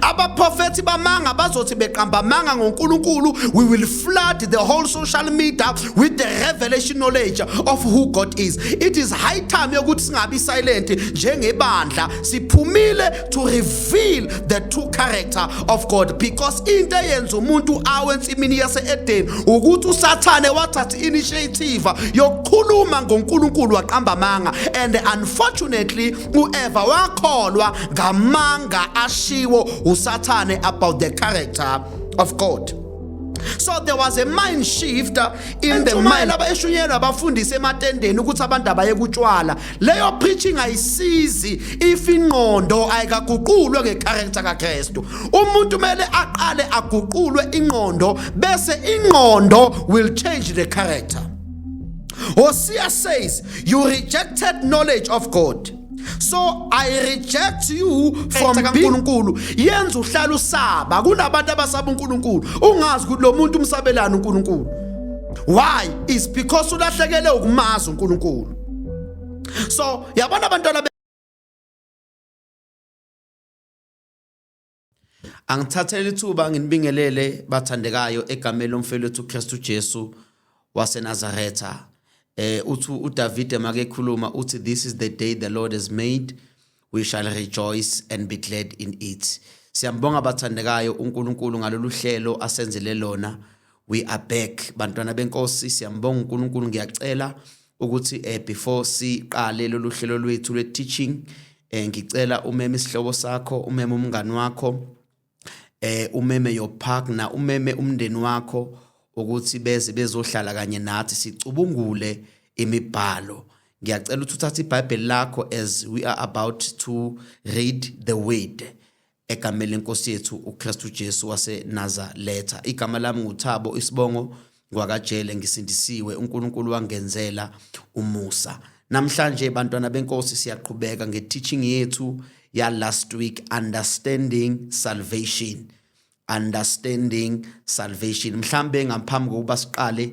abaprofethi bamanga bazothi beqamba amanga ngonkulunkulu we will flood the whole social media with the revelation knowledge of who god is it is high time yokuthi singabi silent njengebandla siphumile to reveal the true character of god because into eyenza umuntu awe ensimini yase-edeni ukuthi usathane wathatha i-initiative yokukhuluma ngonkulunkulu waqamba amanga and unfortunately uEva wakholwa ngamanga ashiwo uSathane about the character of God so there was a mind shift uh, in the mind laba eshunyelwa abafundisi ematendeni ukuthi abantu abayekutshwala leyo preaching ayisizi if ingqondo ayikaguqulwe ngecharacter kaKristu umuntu mele aqale aguqulwe ingqondo bese ingqondo will change the character Hosea says, You rejected knowledge of God. so i reject you from uNkulunkulu yenza uhlala usaba kunabantu abasaba uNkulunkulu ungazi ukuthi lo muntu umsabelana uNkulunkulu why is because ulahlekele ukumazi uNkulunkulu so yabona abantwana Angithathele ithuba nginibingelele bathandekayo egameni lomfelethu uKristu Jesu waseNazaretha. Eh uthi uDavide makekhuluma uthi this is the day the Lord has made we shall rejoice and be glad in it. Siyambonga bathandekayo uNkulunkulu ngalolu hlelo asenzele lona. We are back bantwana benkosi siyambonga uNkulunkulu ngiyacela ukuthi eh before siqale lolu hlelo lwethu lwe teaching eh ngicela umeme isihlobo sakho umeme umngani wakho eh umeme your partner umeme umndeni wakho ukuthi beze bezohlala kanye nathi sicubungule imibhalo ngiyacela ukuthi uthathe iBhayibheli lakho as we are about to read the word egameni lenkosi yethu uKristu Jesu waseNazaretha igama lami nguThabo isibongo ngwakajele ngisindisiwe uNkulunkulu wangenzela umusa namhlanje bantwana benkosi siyaqhubeka ngeteaching yethu ya last week understanding salvation understanding salvation mhlambe ngaphambi kokuba siqale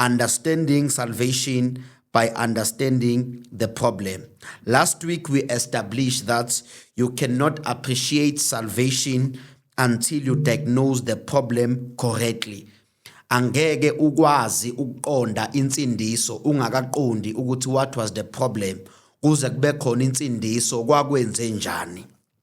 Understanding salvation by understanding the problem. Last week, we established that you cannot appreciate salvation until you diagnose the problem correctly. Angeke ukwazi ukuqonda insindiso ungakaqondi ukuthi what was the problem kuze kube khona insindiso kwakwenze njani.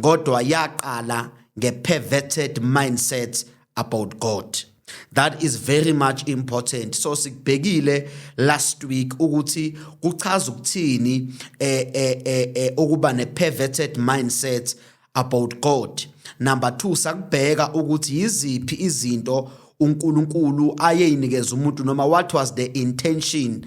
kodwa yaqala nge-perverted mindset about God. That is very much important. So sikubhekile last week ukuthi kuchaza ukuthini eh eh eh, eh ukuba ne perverted mindset about God. Number 2 sakubheka ukuthi yiziphi izinto uNkulunkulu ayeyinikeza umuntu noma what was the intention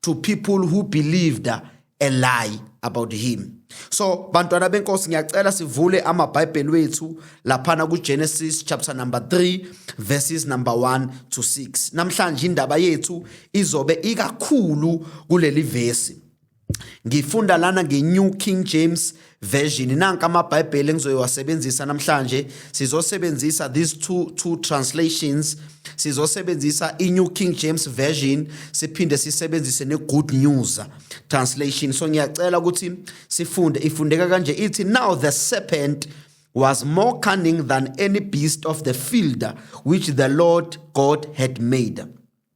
to people who believed a lie about him so bantwana benkosi ngiyacela sivule amabhayibheli wethu laphana kugenesis chapter number 3 verses number 1 to 6 namhlanje indaba yethu izobe ikakhulu kuleli vesi ngifunda lana nge-new king james Version nanka amaBhayibheli engizoyowasebenzisa namhlanje sizosebenzisa these two two translations sizosebenzisa iNew King James Version siphinde sisebenzise neGood News translation so ngiyacela ukuthi sifunde ifundeka kanje ithi now the serpent was more cunning than any beast of the field which the Lord God had made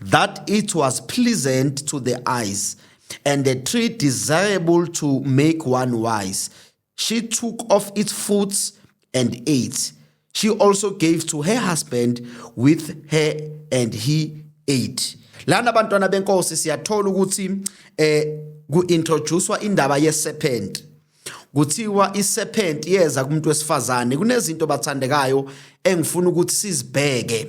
that it was pleasant to the eyes, and the tree desirable to make one wise. She took off its fruits and ate. She also gave to her husband with her, and he ate. Lana bantwana benkosi siyathola ukuthi eh kuintroducewa indaba yeserpent. Kuthiwa iserpent yeza kumuntu wesifazane kunezinto bathandekayo engifuna ukuthi sizibheke.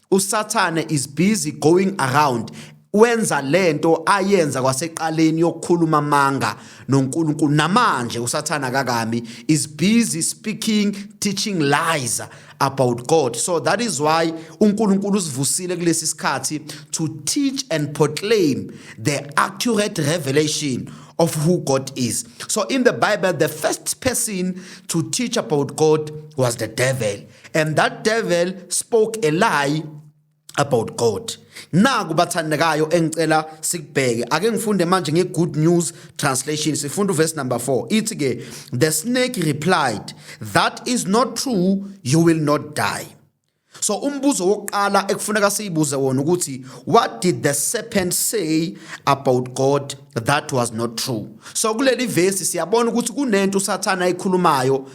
usathane is busy going around wenza lento ayenza kwaseqaleni yokukhuluma amanga noNkulunkulu namanje usathana kakami is busy speaking teaching lies about God so that is why uNkulunkulu usivusile kulesi sikhathi to teach and proclaim the accurate revelation of who God is so in the bible the first person to teach about God was the devil and that devil spoke a lie about God naku bathandekayo engicela sikubheke ake ngifunde manje nge good news translation sifunda uverse number 4 ithi ke the snake replied that is not true you will not die so umbuzo wokuqala ekufuneka siyibuze wona ukuthi what did the serpent say about God that was not true so kuleli verse siyabona ukuthi kunento usathana ayikhulumayo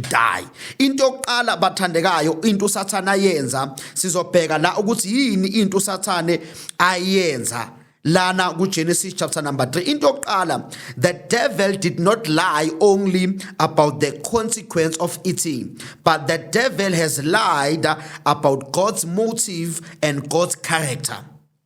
die into yokuqala bathandekayo into usathane ayenza sizobheka la ukuthi yini into usathane ayenza lana kuGenesis chapter number 3 into yokuqala the devil did not lie only about the consequence of eating but the devil has lied about God's motive and God's character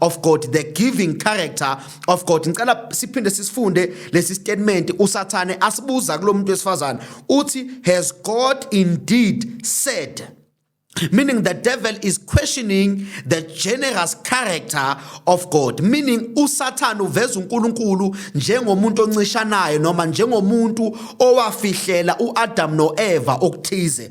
of God the giving character of God ngicela siphinde sisifunde lesi statement usathane asibuza kulomuntu wesifazane uthi has God indeed said meaning the devil is questioning the generous character of God meaning usathane uveza uNkulunkulu njengomuntu oncishanayo noma njengomuntu owafihlela uAdam noEva okuthize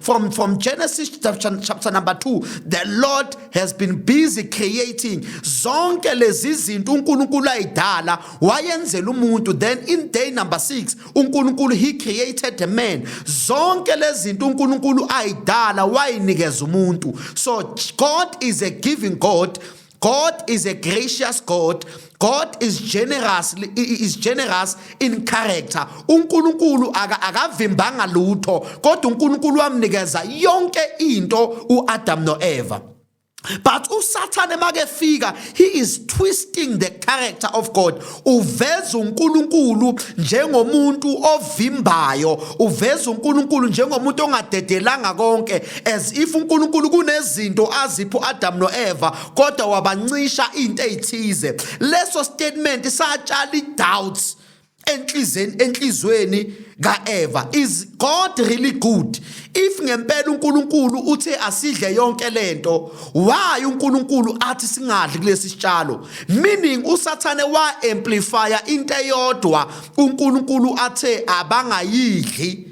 From, from Genesis chapter, chapter number 2, the Lord has been busy creating zonke lezi zinto uNkulunkulu ayidala wayenzela umuntu then in day number 6 uNkulunkulu he created a man zonke lezi zinto uNkulunkulu ayidala wayinikeza umuntu so God is a giving God God is a gracious God. God is generous is generous in character. UNkulunkulu akavimbanga lutho kodwa uNkulunkulu wamnikeza yonke into uAdam noEva. But uSathane makefika he is twisting the character of God. uveza uNkulunkulu njengomuntu ovimbayo uveza uNkulunkulu njengomuntu ongadedelanga konke as if uNkulunkulu kunezinto azipho Adam noEva kodwa wabancisha into ezithize leso statement satshala idoubts enhlizweni enhlizweni kaEva is God really good if ngempela uNkulunkulu uthe asidle yonke lento why uNkulunkulu athi singadli kulesi sitshalo meaning usathane wa amplifier into eyodwa uNkulunkulu athe abangayidli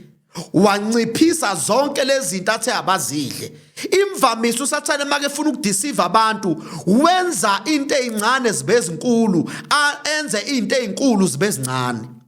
wanciphisa zonke lezi zinto athe abazidle imvamisa usathane make efuna ukudisiva abantu wenza into ezincane zibe ezinkulu enze into ezinkulu zibe ezincane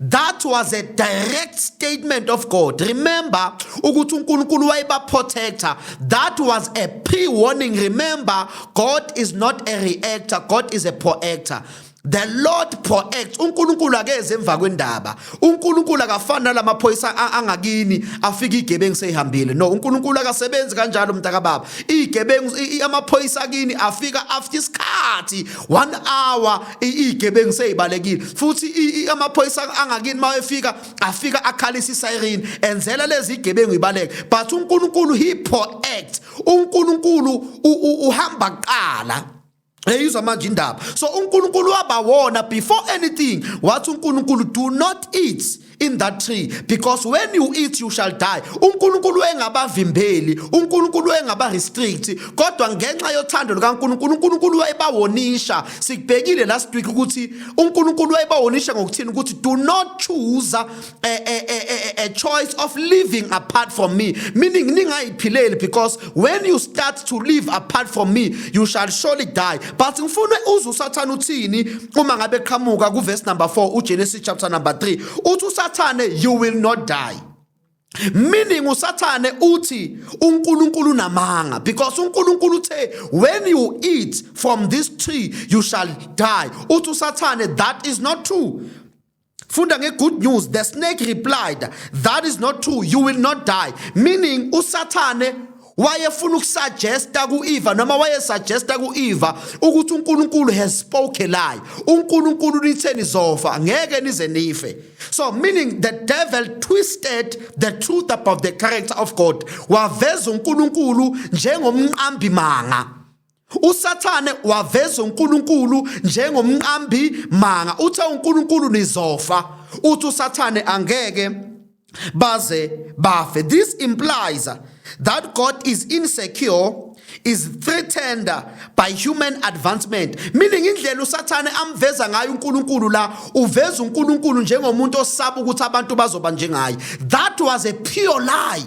That was a direct statement of God. Remember ukuthi uNkulunkulu wayebaprotector. That was a pre-warning. Remember God is not a reactor, God is a proactor. The Lord proacts. UNkulunkulu akeze emva kwendaba. UNkulunkulu akafani nalamaphoyisa angakini afika igebengu seyihambile. No, uNkulunkulu akasebenzi kanjalo mntaka baba. Igebengu amaphoyisa akini afika after isikhathi 1 hour igebengu seyibalekile futhi amaphoyisa angakini uma efika afika akhalisa isiren enzela lezi igebengu ibaleke but uNkulunkulu he proact uNkulunkulu uhamba kuqala eyizwa manje indaba so uNkulunkulu wabawona before anything wathi uNkulunkulu do not eat in that tree because when you eat you shall die uNkulunkulu engabavimbeli uNkulunkulu engabarestrict kodwa ngenxa yothando lukaNkulunkulu uNkulunkulu wayebawonisha sikubhekile last week ukuthi uNkulunkulu wayebawonisha ngokuthini ukuthi do not choose a, a, a, a, a choice of living apart from me meaning ningayiphileli because when you start to live apart from me you shall surely die but ngifuna uze usathane uthini uma ngabe qhamuka kuverse number 4 uGenesis chapter number 3 uthi usathane you will not die meaning usathane uthi uNkulunkulu namanga because uNkulunkulu uthe when you eat from this tree you shall die uthi usathane that is not true funda nge-good news the snake replied that is not true you will not die meaning usathane wayefuna ukusuggesta ku-eva noma wayesuggesta ku-eva ukuthi unkulunkulu has spoke lie unkulunkulu nithe nizofa ngeke nize nife so meaning the devil twisted the truth about the character of god waveza unkulunkulu njengomqambimanga uSathane waveza uNkulunkulu njengomqambi manga uthe uNkulunkulu nizofa uthi uSathane angeke baze bafe this implies that God is insecure is threatened by human advancement meaning indlela usathane amveza ngayo uNkulunkulu la uveza uNkulunkulu njengomuntu osaba ukuthi abantu bazoba njengaye that was a pure lie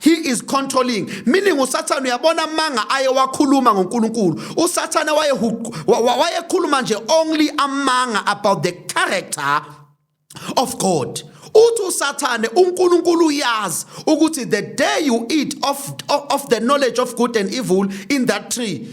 He is controlling meaning uSathane uyabona amanga aye wakhuluma ngoNkulunkulu uSathane waye wayekhuluma nje only amanga about the character of God uthi usathane uNkulunkulu uyazi ukuthi the day you eat of, of, of the knowledge of good and evil in that tree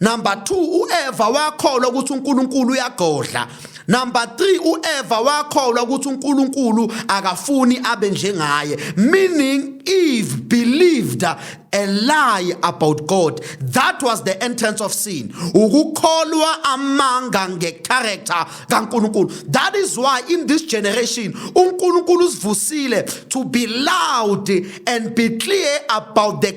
number 2 uEva wakholwa ukuthi uNkulunkulu uyagodla number 3 uEva wakholwa ukuthi uNkulunkulu akafuni abe njengaye meaning Eve believed a lie about God that was the entrance of sin ukukholwa amanga ngecharacter kaNkulunkulu that is why in this generation uNkulunkulu usivusile to be loud and be clear about the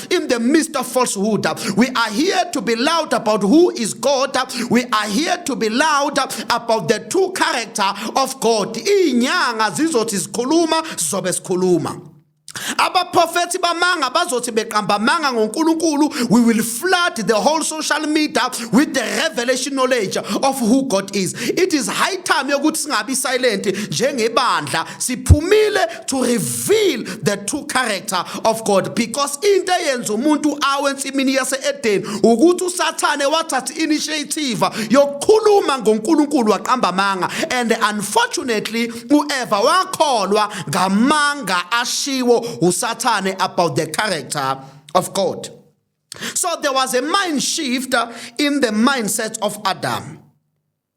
Christ in the midst of falsehood. We are here to be loud about who is God. We are here to be loud about the true character of God. Inyanga zizothi zikhuluma zobe sikhuluma. abaprofethi bamanga bazothi beqamba amanga ngoNkulunkulu we will flood the whole social media with the revelation knowledge of who God is it is high time yokuthi singabi silent njengebandla siphumile to reveal the true character of God because into eyenza umuntu awe ensimini yase-edeni ukuthi usathane wathatha initiative yokukhuluma ngonkulunkulu waqamba amanga and unfortunately ueva wakholwa ngamanga ashiwo usathane about the character of god so there was a mind shift in the mindset of adam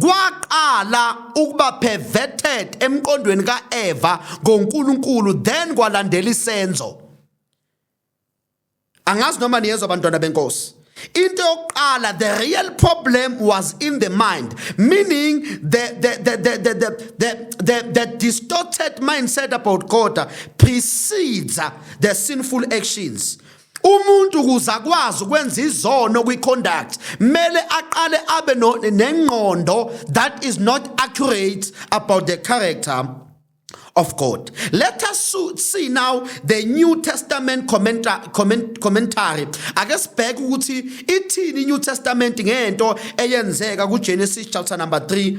kwaqala ukuba perverted emqondweni kaEva ngoNkulunkulu then kwalandela isenzo angazi noma niyezwa abantwana benkosi into yokuqala the real problem was in the mind meaning the the the the the the, the, the, the distorted mindset about god precedes the sinful actions umuntu ukuze akwazi ukwenza izono kwi-conduct mele aqale abe nengqondo that is not accurate about the character of God. Let us see now the New Testament commenta comment commentary. Ake sibheke ukuthi ithini iNew Testament ngento eyenzeka kuGenesis chapter number 3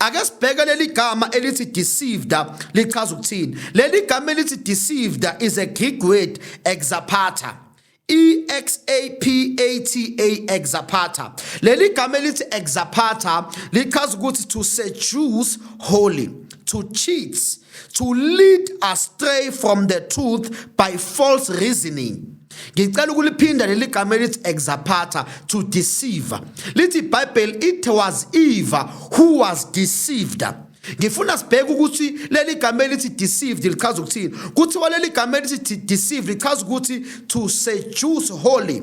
Ake sibheke leli gama elithi deceived lichaza ukuthini. Leli gama elithi deceived is a Greek word exapata. E X A P A T A exapata. Leli gama elithi exapata lichaza ukuthi to seduce wholly, to cheat to lead astray from the truth by false reasoning ngicela ukuliphinda leli gama elithi exapata to deceive lithi ibhayibheli it was eva who was deceived ngifuna sibheke ukuthi leli gama elithi deceived lichaza ukuthini kuthiwa leli gama elithi deceived lichaza ukuthi to seduce holy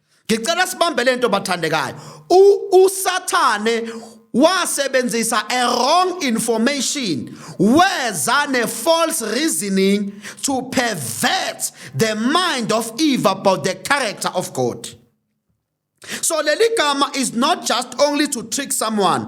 ngicela sibambe lento bathandekayo usathane wasebenzisa a wrong information weza ne false reasoning to pervert the mind of eve about the character of god so leli gama is not just only to trick someone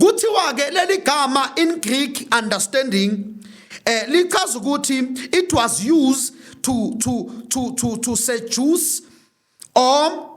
kuthiwa ke leli gama in Greek understanding eh lichaza ukuthi it was used to to to to to seduce or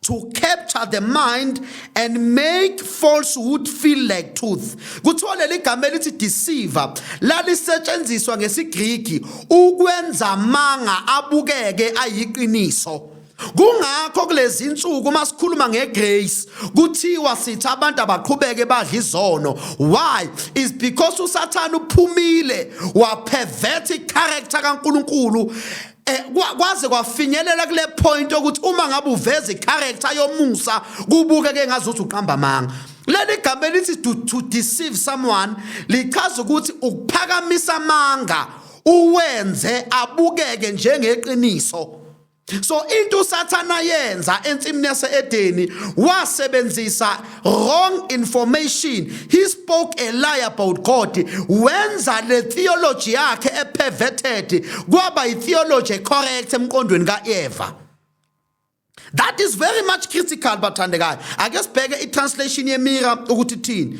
to capture the mind and make falsehood feel like truth kuthiwa leli gama elithi deceiver lalisetshenziswa ngesigriki ukwenza amanga abukeke ayiqiniso Kungakho kulezi insuku uma sikhuluma ngegrace kuthiwa sithi abantu abaqhubeke badla izono. Why? Is because uSathane uphumile wapervert icharacter kaNkulunkulu eh, kwaze kwafinyelela kule point ukuthi uma ngabe uveza icharacter yomusa kubuke ke ngazuthi uqamba amanga leli gama elithi to, to deceive someone lichaza ukuthi ukuphakamisa amanga uwenze abukeke njengeqiniso so into usathana yenza ensimini yaseedeni wasebenzisa wrong information he spoke a lie about god wenza le theology yakhe eperverted kwaba itheology ecorrect emqondweni kaeva that is very much critical bathandekayo ake sibheke itranslation yemira ukuthi thini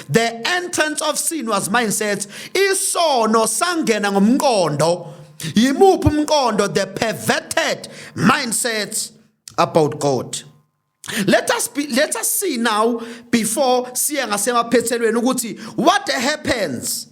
the entrance of sin was mindset isono sangena ngomqondo yimuphi umqondo the perverted mindsets about god let us be, let us see now before siye ngasemaphethelweni ukuthi what happens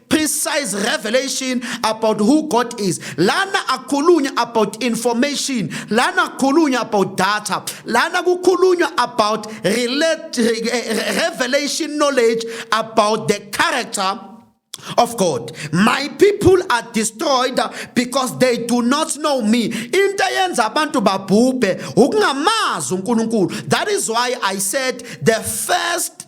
precise revelation about who God is. Lana akhulunywa about information, lana akhulunywa about data, lana kukhulunywa about relate, revelation knowledge about the character of God. My people are destroyed because they do not know me. Into eyenza abantu babhubhe ukungamazi uNkulunkulu. That is why I said the first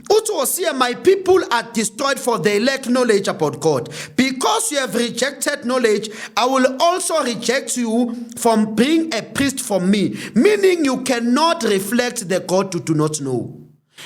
uthi wosiye my people are destroyed for they lack knowledge about god because you have rejected knowledge i will also reject you from being a priest for me meaning you cannot reflect the god you do not know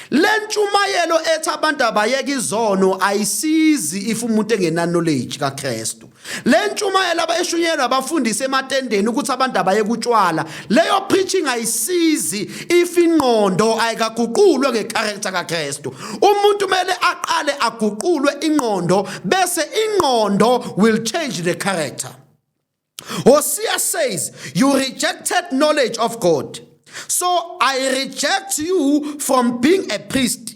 le ntshumayelo ethi abantu abayeke izono ayisizi if umuntu engenaknowledge kakristu le ntshumayelo abayishunyelwa abafundisi ematendeni ukuthi abantu abaye kutshwala leyo preaching ayisizi if ingqondo ayikaguqulwe ngecharacter kaKristu umuntu kumele aqale aguqulwe ingqondo bese ingqondo will change the character Hosea says you rejected knowledge of God so I reject you from being a priest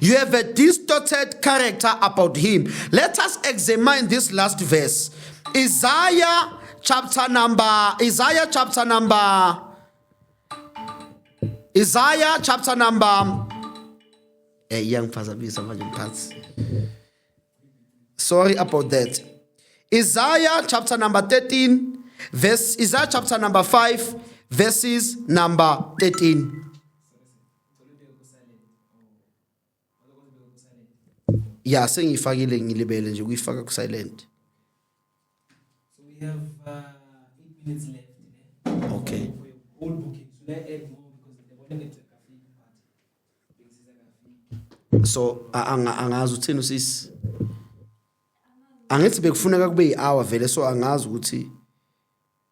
You have a distorted character about him. Let us examine this last verse. Isaiah chapter number Isaiah chapter number Isaiah chapter number eh iyangiphazamisa manje mphathi. Sorry about that. Isaiah chapter number 13 verse Isaiah chapter number 5 verses number 13. ya sengiyifakile ngilibele nje ukuyifaka ku silent so we have uh, 8 minutes left eh? okay all bookings should i add more because the bonnet so angazi uthini usisi angithi bekufuneka kube yi-hour vele so angazi ukuthi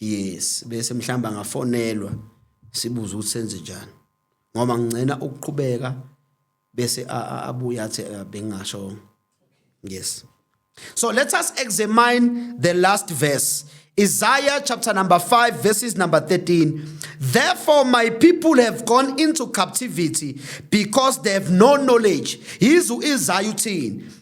yes bese mhlamba ngafonelwa sibuza ukuthi senze njani ngoba ngicela ukuqhubeka bese abuye athi eh, bengasho yes so let us examine the last verse Isaiah chapter number 5, verses number 13. Therefore, my people have gone into captivity because they have no knowledge. Yizu Isaiah 10.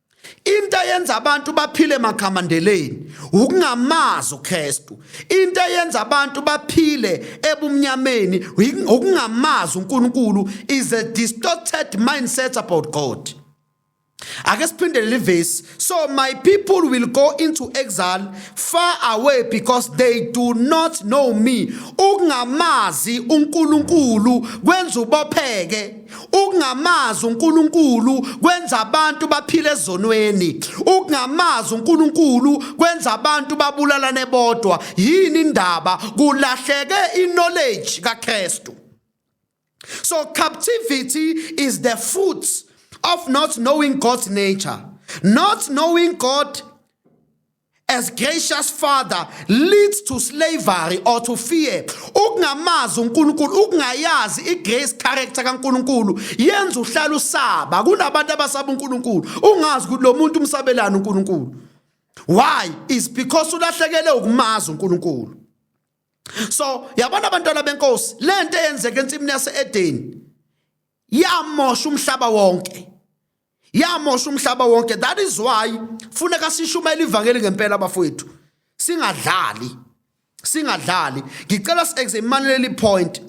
into eyenza abantu baphile makhamandeleni ukungamazi uKristu into eyenza abantu baphile ebumnyameni ukungamazi uNkulunkulu is a distorted mindset about God ake siphindele livesi so my people will go into exile far away because they do not know me ukungamazi uNkulunkulu kwenza ubopheke Ukungamazi uNkulunkulu kwenza abantu baphile ezonweni. Ukungamazi uNkulunkulu kwenza abantu babulalane bodwa. Yini indaba? Kulahleke i-knowledge kaKristu. So captivity is the fruit of not knowing God's nature, not knowing God as gracious father leads to slavery or to fear ukungamazi uNkulunkulu ukungayazi igrace character kaNkulunkulu yenza uhlala usaba kunabantu abasaba uNkulunkulu ungazi ukuthi lo muntu umsabelana uNkulunkulu why is because ulahlekele ukumazi uNkulunkulu so yabona abantwana benkosi lento eyenzeka ensimini yaseEden yamosha umhlaba wonke yamosha umhlaba wonke that is why funeka sishumayele ivangeli ngempela bafowethu singadlali singadlali ngicela si-examine leli point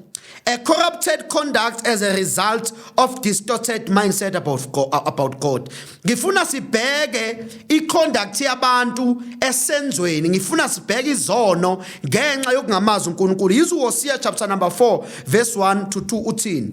a corrupted conduct as a result of distorted mindset about God, about God. ngifuna sibheke iconduct yabantu esenzweni ngifuna sibheke izono ngenxa yokungamazi uNkulunkulu yizo Hosea chapter number 4 verse 1 to 2 uthini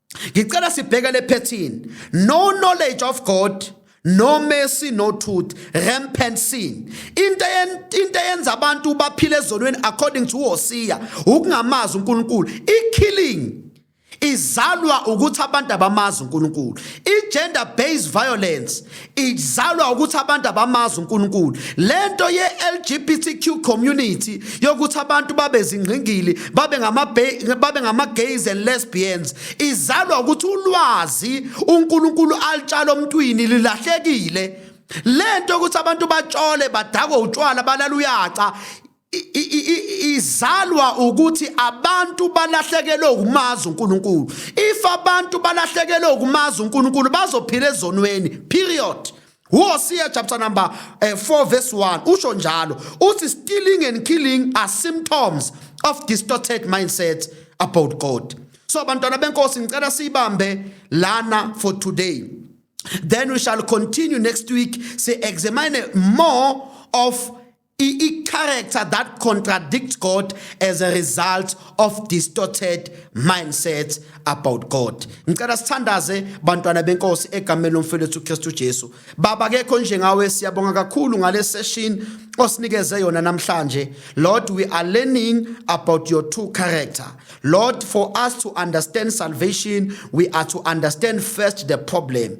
ngicela sibheke le phethini no knowledge of god no mercy no truth rampant sin into into eyenza abantu baphile ezonweni according to uHosiya ukungamazi uNkulunkulu ikilling izalwa ukuthi abantu abamazi uNkulunkulu igender based violence izalwa ukuthi abantu abamazi uNkulunkulu lento ye LGBTQ community yokuthi abantu babe zingqingili babe ngama babe ngama gays and lesbians izalwa ukuthi ulwazi uNkulunkulu alitshala omntwini lilahlekile lento ukuthi abantu batshole badakwe utshwala balala uyaca izalwa ukuthi abantu balahlekelwe ukumazi uNkulunkulu if abantu balahlekelwe ukumazi uNkulunkulu bazophila ezonweni period Hosea chapter number uh, eh, 4 verse 1 usho njalo uthi stealing and killing are symptoms of distorted mindset about God so bantwana benkosi ngicela siyibambe lana for today then we shall continue next week say examine more of i-character that contradicts God as a result of distorted mindsets about God. Ngicela sithandaze bantwana benkosi egameni lomfelethu uKristu Jesu. Baba kekho njengawe siyabonga kakhulu ngale session osinikeze yona namhlanje. Lord we are learning about your true character. Lord for us to understand salvation we are to understand first the problem.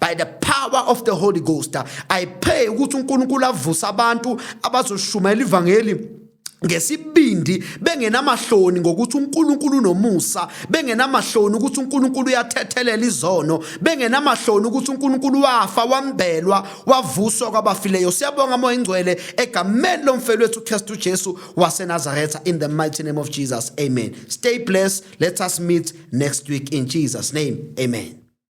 by the power of the holy ghost i pray ukuthi unkulunkulu avuse abantu abazoshumayela ivangeli ngesibindi bengenamahloni ngokuthi uNkulunkulu unomusa bengenamahloni ukuthi uNkulunkulu uyathethelela izono bengenamahloni ukuthi uNkulunkulu wafa wambelwa wavuswa kwabafileyo siyabonga moya ingcwele egameni lomfelo wethu uKristu Jesu waseNazaretha in the mighty name of Jesus amen stay blessed let us meet next week in Jesus name amen